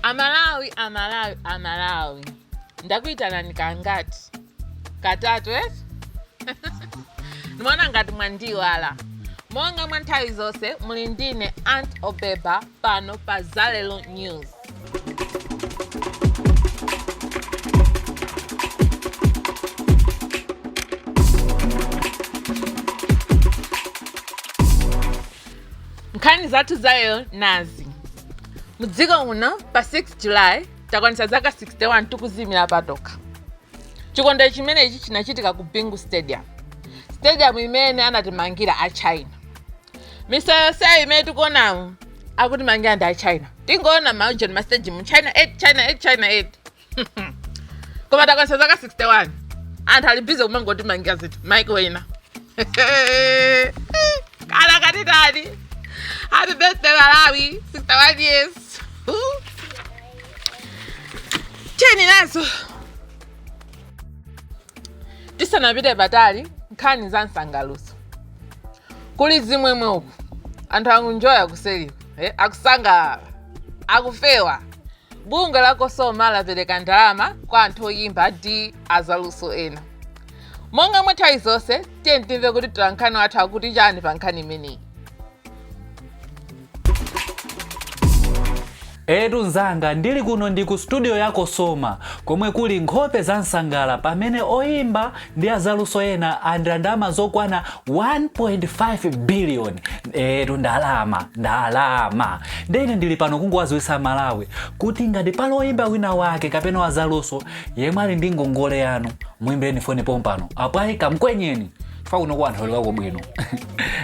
amalawi amalawi amalawi ndakuyitanani kangati katatu etu ndimaona ngati mwandiwala monga mwa nthawi zonse muli ndi ine aunt obeba pano pa zalelo news nkhani zathu za lero nazi mudziko muno pa 6 july takwanitsa zaka 61 tikudziyimira patokha chikondwero chimenechi chinachitika ku bingu stadium stadium imene anatimangira a china misewu yonseyo imene tikuonamu akutimangira ndi a china tingoona maujeni ma stadium china 8 china 8 china 8 koma takwanitsa zaka 61 anthu ali busy kumangotimangira zinthu maiko ena kana katitani happy birthday malawi 61 years Ooh. tiyeni nazo tisanapite patali nkhani za msangalutso kuli zimwemwe uku anthu akunjoya kuseriku eh, akusangalala akufewa Bungwe la Cosoma lapereka ndalama kwa anthu oyimba ndi azaluso ena. Monga mwa nthawi zonse, tiyeni timve kuti mtolankhani wathu akuti chani pa nkhani imeneyi. Etu mzanga ndili kuno ndi ku studio ya Cosoma komwe kuli nkhope za msangala pamene oyimba ndi azaluso ena alandira ndalama zokwana 1.5 biliyoni etu ndalama ndalama nde ine ndili pano kungowadziwitsa amalawi kuti ngati pali oyimba wina wake kapena wazaluso yemwe ali ndi ngongole yanu muimbireni foni pompano apa kamkwenyeni chifukwa kuno kwa anthu aulukako bwino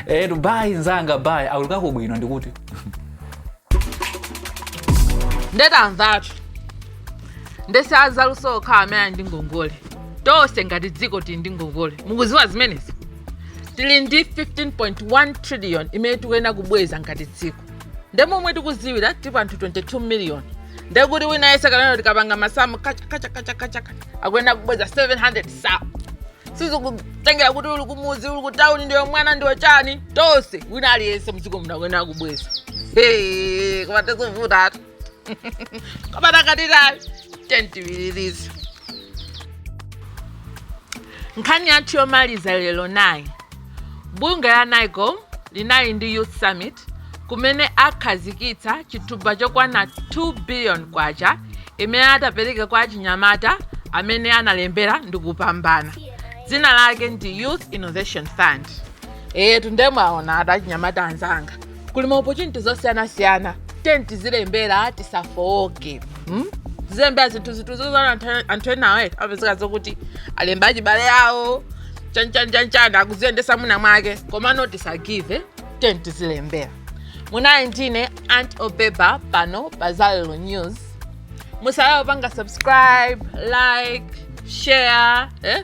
etu bayi mzanga bayi aulukako bwino ndikuti ndetamvatu nde si azaluso okha amene ali ndi ngongole tonse ngati dziko tili ndi ngongole mukudziwa zimenezi tili ndi 15.1 trillion imene tikuyenera kubweza ngati dziko nde momwe tikudziwira tili anthu 22 million nde kuti wina aliyense kunoko tikapanga masamu kachakachakachakachaka akuyenera kubweza 700 sauzande sizikutengera kuti uli kumudzi uli kutawuni ndiwe mwana ndiwe chani tonse wina aliyense mdziko muno akuyenera kubweza koma tizovutatu koma takatitayo tiyeni tipitirize nkhani yathu yomaliza lero nayi bungwe la nycom linali ndi youth summit kumene akhazikitsa thumba chokwana 2 billion kwacha imene atapereke kwa achinyamata amene analembera ndi kupambana dzina lake ndi youth innovation fund eyetu nde mwaonatu achinyamata anzanga kuli ma opportunity zosiyanasiyana tiyeni tizilembera tisafooke hmm? tizilembera zinthu zinthu zozana anthu- anthu enawo eti apezeka zakuti alemba achibale yawo chanchanchanchan akuziyendesa mwina mwake komano tisagive tiyeni tizilembera munayi ndine Aunt Obeba pano pa zalelo news musaiwale kupanga subscribe like share eh?